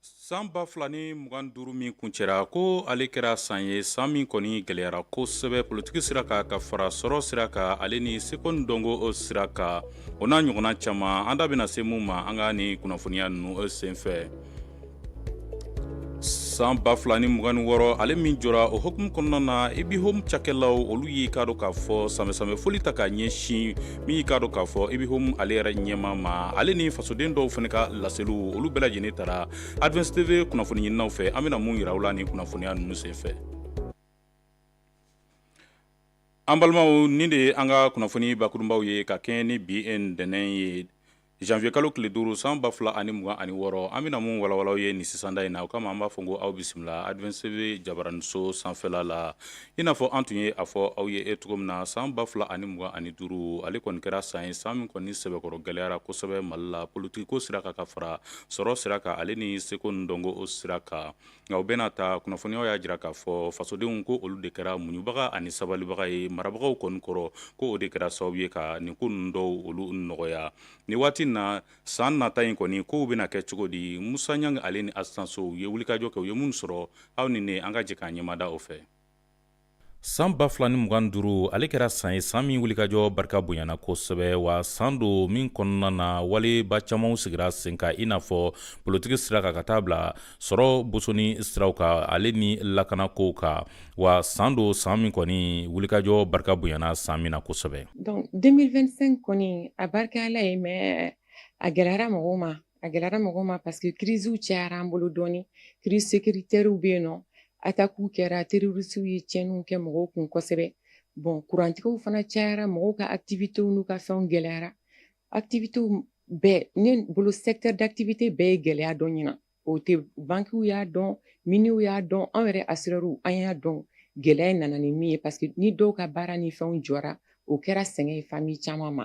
San ba fila ni mugan duuru min kuncɛra ko ale kɛra san ye san min kɔni gɛlɛyara kosɛbɛ politiki sira ka ka fara sɔrɔ sira ka ale ni seko ni dɔnko o sira kan o n'a ɲɔgɔnna caman an da bɛna se min ma an ka ni kunnafoniya ninnu senfɛ san ba fila ni mugan wɔɔrɔ ale min jɔra o hukumu kɔnɔna na IBIHOM cakɛlaw olu y'i k'a dɔn k'a fɔ sanbɛsanbɛ foli ta k'a ɲɛsin min y'i k'a dɔn k'a fɔ IBIHOM ale yɛrɛ ɲɛmaa ma ale ni fasoden dɔw fana ka laseliw olu bɛɛ lajɛlen tara advance tv kunnafoni ɲininaw fɛ an bɛna mun yira aw la nin kunnafoniya ninnu senfɛ an balimaw nin de ye an ka kunnafoni bakurunbaw ye ka kɛɲɛ ni bi ntɛnɛn ye Janvier kalo tile duuru san ba fila ani mugan ani wɔɔrɔ an bɛna mun walawala aw ye nin sisanda in na o kama an b'a fɔ ko aw bisimila advance tv jabaraniso sanfɛla la i n'a fɔ an tun ye a fɔ aw ye e cogo min na san ba fila ani mugan ani duuru ale kɔni kɛra san ye san min kɔni sɛbɛkɔrɔ gɛlɛyara kosɛbɛ mali la politiki ko sira ka ka fara sɔrɔ sira kan ale ni seko ni dɔnko o sira kan nka o bɛɛ n'a ta kunnafoniyaw y'a jira k'a fɔ fasodenw ko olu de kɛra muɲubaga ani sabalibaga ye marabagaw kɔni kɔrɔ ko o de kɛra sababu ye ka nin ko ninnu dɔw olu nɔgɔya ni waati na san nata in kɔni kow bɛna kɛ cogo di musa ɲangi ale ni asitan so u ye wulikajɔ kɛ u ye minnu sɔrɔ aw ni ne an ka jɛ k'an ɲɛmada o fɛ san ba fila ni mugan duuru ale kɛra san ye san min wulikajɔ barika bonyana kosɛbɛ wa san don min kɔnɔna na waleba camanw sigira sen ka i n'a fɔ politiki sira ka ka taa bila sɔrɔ bosoni siraw ka ale ni lakana kow ka wa san don san min kɔni wulikajɔ barika bonyana san min na kosɛbɛ 2025 kɔni a barika ala ye mais a gɛlɛyara mɔgɔw ma A gɛlɛyara mɔgɔ ma parce que crise cayara an bolo dɔɔni crise sécuritaire bɛ yen nɔ attaques kɛra terroristes ye tiɲɛniw kɛ mɔgɔw kun kosɛbɛ bon kurantigɛw fana cayara mɔgɔw ka activités n'u ka fɛnw gɛlɛyara activités bɛɛ ne bolo secteur d'activité bɛɛ ye gɛlɛya dɔn ɲinan o tɛ banques y'a dɔn miniers y'a dɔn anw yɛrɛ assureurs an y'a dɔn gɛlɛya in nana ni min ye parce que ni dɔw ka baara ni fɛnw jɔra o kɛra sɛgɛn ye famille caman ma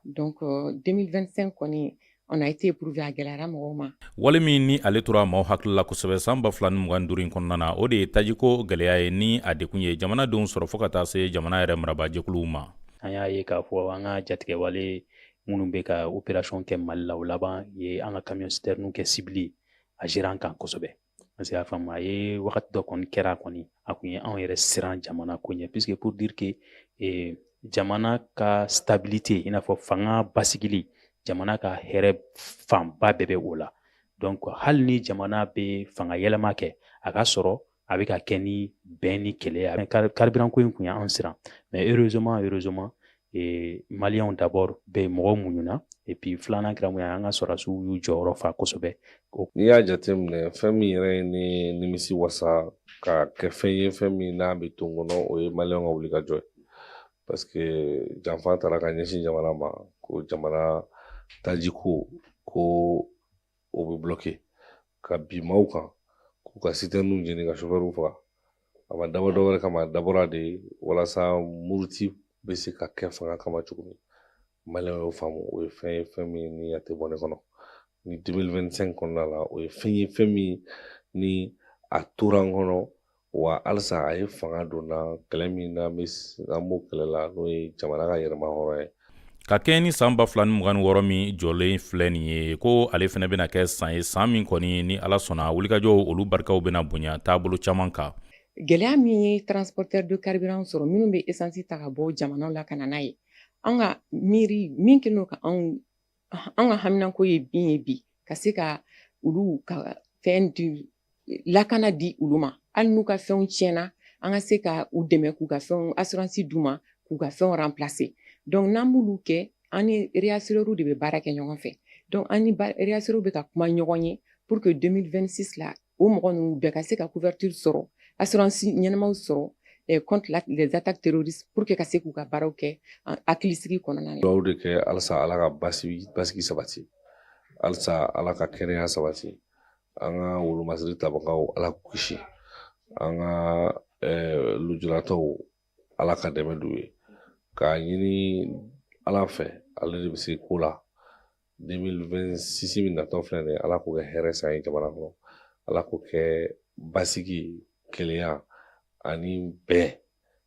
donc 2025 kɔni on a été éprouvé a gɛlɛyara mɔgɔw ma wale min ni ale tora maaw hakili la kosɛbɛ san ba fila ni mugan duuru in kɔnɔna na o de ye tajiko gɛlɛya ye ni a degun ye jamanadenw sɔrɔ fo ka taa se jamana yɛrɛ marabajɛkuluw ma an y'a ye k'a fɔ an ka jatigɛwale minnu bɛ ka opération kɛ mali la o laban ye an ka camion citerne kɛ cible a jɛra an kan kosɛbɛ parce que y'a faamu a ye wagati dɔ kɔni kɛra kɔni a kun ye anw yɛrɛ siran jamana ko ɲɛ puisque pour dire que eh, jamana ka stabilité i n'a fɔ fanga basigili jamana ka hɛrɛ fanba bɛɛ bɛ o la donc hali ni jamana bɛ fanga yɛlɛma kɛ a k'a sɔrɔ a bɛ ka kɛ ni bɛn ni kelenya carburant ko in kun ye anw siran mais heureusement heureusement e, maliyɛnw d'abord bɛ mɔgɔw muɲuna et puis filanan kɛra mun ye an ka sɔrɔdasiw y'u jɔyɔrɔ fa kosɛbɛ n'i y'a jateminɛ fɛn min yɛrɛ ye ne nimisi wasa ka kɛ fɛn ye fɛn min n'a bɛ to n kɔnɔ o ye maliyɛnw ka wulikajɔ ye parce que janfa taara ka ɲɛsin jamana ma ko jamana tajiko ko o bɛ bulɔki ka bin maaw kan k'u ka sitɛninw jeni ka sofɛriw faga a ma dabɔ dɔwɛrɛ kama a dabɔra de walasa muruti bɛ se ka kɛ fanga kama cogo min maliyɛnw y'o faamu o ye fɛn ye fɛn min ni a tɛ bɔ ne kɔnɔ ni 2025 kɔnɔna la o ye fɛn ye fɛn min ni a tora n kɔnɔ wa halisa a ye fanga don na kɛlɛ min na an b'o kɛlɛ la n'o ye jamana ka yɛrɛmahɔrɔnya ye ka kɛɲɛ ni san ba fila ni mugan ni wɔɔrɔ min jɔlen filɛ nin ye ko ale fana bɛna kɛ san ye san min kɔni ni ala sɔnna wulikajɔ olu barikaw bɛna bonya taabolo caman kan gɛlɛya min ye transporteurs de carburant sɔrɔ minnu bɛ esansi ta ka bɔ jamanaw la ka na n'a ye an ka miiri min kɛlen don ka anw an ka haminanko ye min ye bi ka se ka olu ka fɛn di lakana di olu ma hali n'u ka fɛnw tiɲɛna an ka se ka u dɛmɛ k'u ka fɛnw asuransi d'u ma k'u ka fɛnw ranplase donc n'an b'olu kɛ an ni reyasurɛriw de bɛ baara kɛ ɲɔgɔn fɛ donc an ni reyasurɛriw bɛ ka kuma ɲɔgɔn ye pour que 2026 la o mɔgɔ ninnu bɛɛ ka se ka couverture sɔrɔ assurance ɲɛnamaw sɔrɔ eh, contre la, les attaques terroristes pour que ka se k'u ka baaraw kɛ hakilisigi kɔnɔna na. Dugawu de kɛ halisa Ala ka basigi sabati halisa Ala ka kɛnɛya sabati an ka wolomasiri tabagaw Ala k'u kisi an ka eh, lujuratɔw Ala ka dɛmɛ d'u ye k'a ɲini Ala fɛ ale de bɛ se ko la 2026 min natɔ filɛ nin ye ala k'o kɛ hɛrɛ san ye jamana kɔnɔ ala k'o kɛ basigi kelenya ani bɛn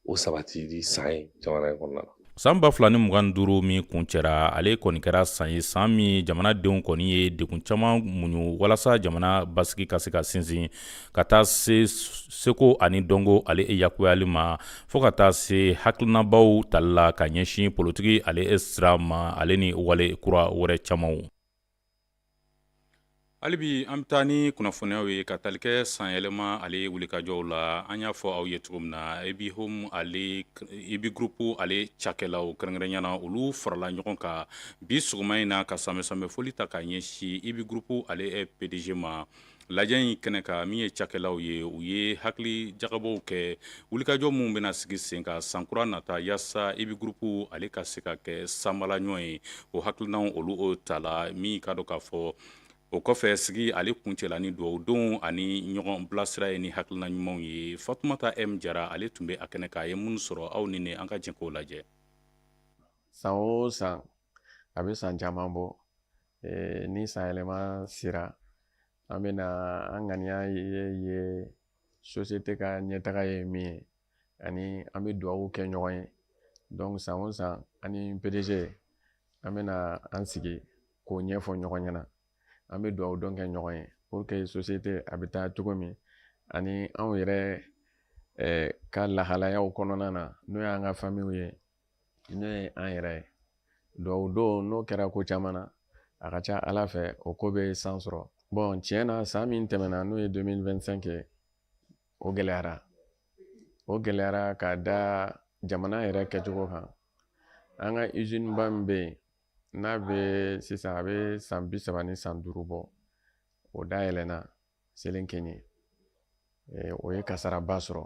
o sabatili san ye jamana in kɔnɔna na saan ba fila ni mugan ni duuru min kuncɛra ale kɔni kɛra san ye saan min jamanadenw kɔni ye degun caman muɲu walasa jamana basigi ka se ka sinsin ka taa se seko ani dɔnko ale e yakuyali ma fɔɔ ka taa se hakilinabaw tali la ka ɲɛsin politiki ale e sira ma ale ni wale kura wɛrɛ camanw hali bi an bɛ taa ni kunnafoniyaw ye ka tali kɛ sanyɛlɛma ale wulikajɔw la an y'a fɔ aw ye cogo min na ibi home ale ibi gurupu ale cakɛlaw kɛrɛnkɛrɛnya na olu farala ɲɔgɔn kan bi sɔgɔma in na ka sanbɛ sanbɛ foli ta k'a ɲɛsin ibi gurupu ale pdg ma Lajɛ in kɛnɛ kan min ye cakɛlaw ye u ye hakili jagabɔ kɛ wulikajɔ minnu bɛna sigi sen kan sankura nata yaasa IBI groupe ale ka se ka kɛ sanbala ɲɔgɔn ye o hakilinaw olu o ta la min ka dɔn k'a fɔ o kɔfɛ sigi ale kuncɛla ni dugawu donw ani ɲɔgɔn bilasira ye ni hakilina ɲumanw ye Fatumata M Jara ale tun bɛ a kɛnɛ kan a ye minnu sɔrɔ aw ni ne an ka jɛ k'o lajɛ san o san a bɛ san caman bɔ ni sanyɛlɛma sera an bɛ na an ŋaniya ye société ka ɲɛtaga ye min ye ani an bɛ dugawu kɛ ɲɔgɔn ye donc san o san an ni PDG an bɛ na an sigi k'o ɲɛfɔ ɲɔgɔn ɲɛna an bɛ dugawu don kɛ ɲɔgɔn ye pour que société a bɛ taa cogo min ani anw yɛrɛ ka lahalayaw kɔnɔna na n'o y'an ka famiw ye n'o ye an yɛrɛ ye donc o don n'o kɛra ko caman na a ka ca ala fɛ o ko bɛ san sɔrɔ bon tiɲɛ na san min tɛmɛna n'o ye 2025 ye o gɛlɛyara o gɛlɛyara ka da jamana yɛrɛ kɛcogo kan an ka usine ba min bɛ yen n'a bɛ sisan a bɛ san bi saba ni san duuru bɔ o dayɛlɛnna Selenkeɲi o ye kasaraba sɔrɔ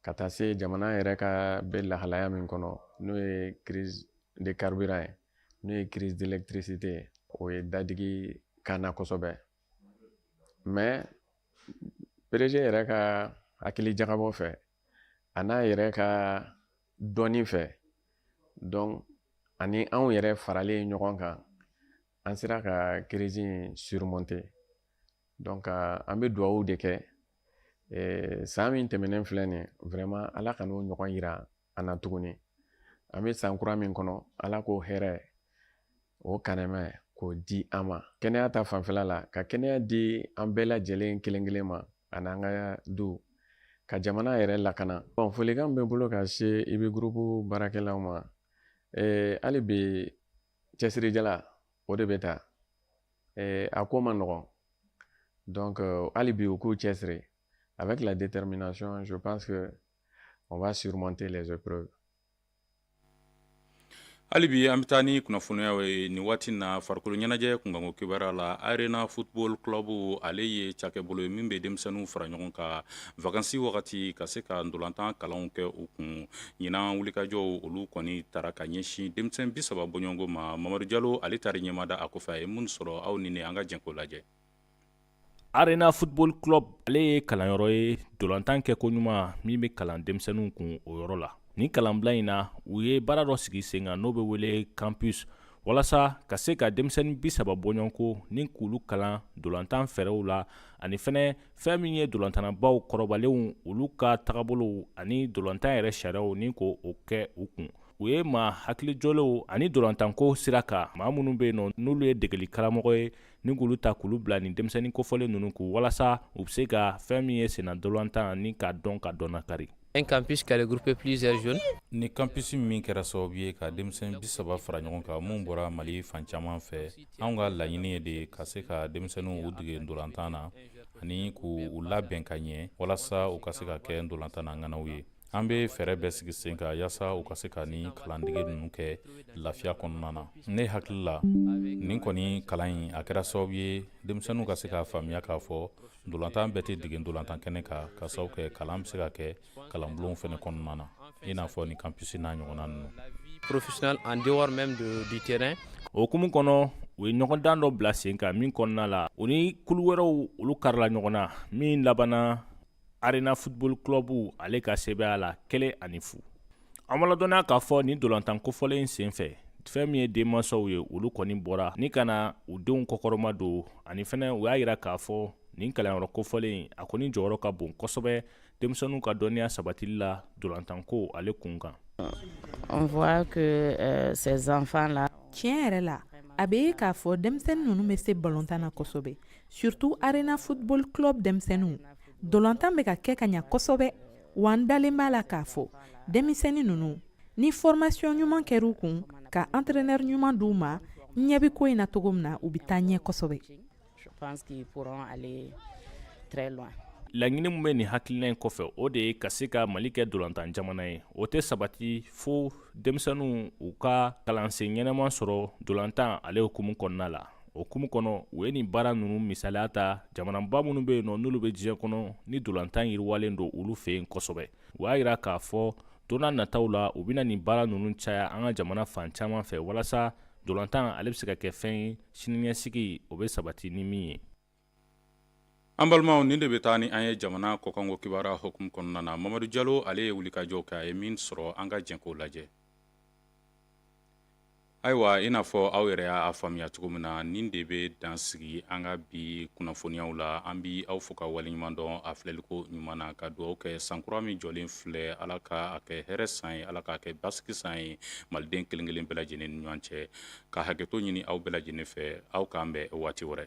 ka taa se jamana yɛrɛ ka bɛ lahalaya min kɔnɔ n'o ye crise de carburant ye n'o ye crise d'électricité ye o ye dadigi k'an na kosɛbɛ mais PDG yɛrɛ ka hakili jagabɔ fɛ a n'a yɛrɛ ka dɔnni fɛ donc ani anw yɛrɛ faralen ɲɔgɔn kan An sera ka crise in surmonter donc an bɛ dugawu de kɛ san min tɛmɛnen filɛ nin ye vraiment Ala kan'o ɲɔgɔn yira an na tuguni an bɛ san kura min kɔnɔ Ala k'o hɛrɛ o ka nɛɛma k'o di an ma kɛnɛya ta fan fɛ Ala ka kɛnɛya di an bɛɛ lajɛlen kelen kelen ma ani an ka du ka jamana yɛrɛ lakana bon folikan bɛ n bolo ka se IBI groupe baarakɛlaw ma hali bi cɛsirijala o de bɛ taa ɛɛ a ko man nɔgɔn donc euh, hali bi u k'u cɛsiri avec la détermination je pense que on va surmonter les épreuves hali bi an bɛ taa ni kunnafoniya ye nin waati na farikolo ɲɛnajɛ kunkanko kibaruya la Arena Football Club ale ye cakɛbolo ye min bɛ denmisɛnninw fara ɲɔgɔn kan vacances wagati ka se ka ntolantan kalanw kɛ u kun ɲinan wulikajɔw olu kɔni taara ka ɲɛsin denmisɛn bi saba bɔɲɔgɔnko ma mamadu jalo ale taar'i ɲɛmada a kɔfɛ a ye minnu sɔrɔ aw ni ne an ka jɛn k'o lajɛ arena football club ale ye kalanyɔrɔ ye dolantan kɛ ko ɲuman min bɛ kalan denmisɛnninw kun o yɔrɔ la nin kalanbila in na u ye baara dɔ sigi sen kan n'o bɛ wele campus walasa ka se ka denmisɛnnin bi saba bɔɲɔgɔnko ni k'olu kalan dolantan fɛɛrɛw la ani fɛnɛ fɛn min ye dolantannabaw kɔrɔbalenw olu ka tagabolow ani dolantan yɛrɛ sariyaw ni k'o kɛ u kun u ye maa hakilijɔlenw ani dolantanko sira kan maa minnu bɛ yen nɔ n'olu ye degeli karamɔgɔ ye ni k'olu ta k'olu bila nin denmisɛnnin kofɔlen ninnu kun walasa u bɛ se ka fɛn min ye senna dolantan ni k'a dɔn k'a dɔnnakari Un campus qui a regroupé plusieurs jeunes nin campus min kɛra sababu ye ka denmisɛn bi saba fara ɲɔgɔn kan minnu bɔra mali fan caman fɛ anw ka laɲini ye de ka se ka denmisɛnninw dege dolantan na ani k'u labɛn ka ɲɛ walasa u ka se ka kɛ dolantan na ŋanaw ye an bɛ fɛɛrɛ bɛɛ sigi sen kan yaasa u ka se ka nin kalandege ninnu kɛ lafiya kɔnɔna na ne hakili la nin kɔni kalan in a kɛra sababu ye denmisɛnninw ka se k'a faamuya k'a fɔ ntolantan bɛɛ tɛ dege ntolantan kɛnɛ kan ka sababu kɛ kalan bɛ se ka kɛ kalanbulonw fɛnɛ kɔnɔna na i n'a fɔ nin campus n'a ɲɔgɔnna ninnu professionnel en dehors même de, du terrain o hukumu kɔnɔ u ye ɲɔgɔndan dɔ bila sen kan min kɔnɔna la u ni kulu wɛrɛw olu karila ɲɔgɔn na min labanna arena football club ale ka sebaaya la kelen ani fu An b'a ladɔnniya k'a fɔ nin dolantan kofɔlen in senfɛ fɛn min ye denmansaw ye olu kɔni bɔra ni ka na u denw kɔkɔrɔmadon ani fɛnɛ u y'a yira k'a fɔ nin kalanyɔrɔ kofɔlen a kɔni jɔyɔrɔ ka bon kosɛbɛ denmisɛnninw ka dɔnniya sabatili la dolantanko ale kun kan On voit que euh, ces enfants là tiɲɛ yɛrɛ la a bɛ ye k'a fɔ denmisɛnnin ninnu bɛ se balontan na kosɛbɛ surtout arena football club denmisɛnninw dolantan bɛ ka kɛ ka ɲa kosɛbɛ Wa n dalen b'a la k'a fɔ denmisɛnnin ninnu ni formation ɲuman kɛr'u kun ka entraîneur ɲuman di u ma n ɲɛ bɛ ko in na cogo min na u bɛ taa ɲɛ kosɛbɛ laɲini min bɛ nin hakilina in kɔfɛ o de ye ka se ka mali kɛ dolantan jamana ye o tɛ sabati fo denmisɛnninw u ka kalansen ɲɛnama sɔrɔ dolantan ale hukumu kɔnɔna la o hukumu kɔnɔ u ye nin baara ninnu misaliya ta jamanaba minnu bɛ yen nɔ n'olu bɛ diɲɛ kɔnɔ ni dolantan yiriwalen don olu fɛ yen kosɛbɛ u y'a yira k'a fɔ don n'a nataw la u bɛna nin baara ninnu caya an ka jamana fan caman fɛ walasa dolantan ale bɛ se ka kɛ fɛn ye siniɲɛsigi o bɛ sabati ni min ye an balimaw nin de bɛ taa ni an ye jamana kɔkanko kibaruya hukumu kɔnɔna na mamadu jalo ale ye wulikajɔw kɛ a ye min sɔrɔ an ka jɛ k'o lajɛ ayiwa i n'a fɔ aw yɛrɛ y'a faamuya cogo min na nin de bɛ dan sigi an ka bi kunnafoniyaw la an bɛ aw fo ka waleɲuman dɔn a filɛliko ɲuman na ka dugawu kɛ sankura min jɔlen filɛ ala ka a kɛ hɛrɛ san ye ala k'a kɛ basigi san ye maliden kelenkelen bɛɛ lajɛlen ni ɲɔgɔn cɛ ka hakɛto ɲini aw bɛɛ lajɛlen fɛ aw k'an bɛn waati wɛrɛ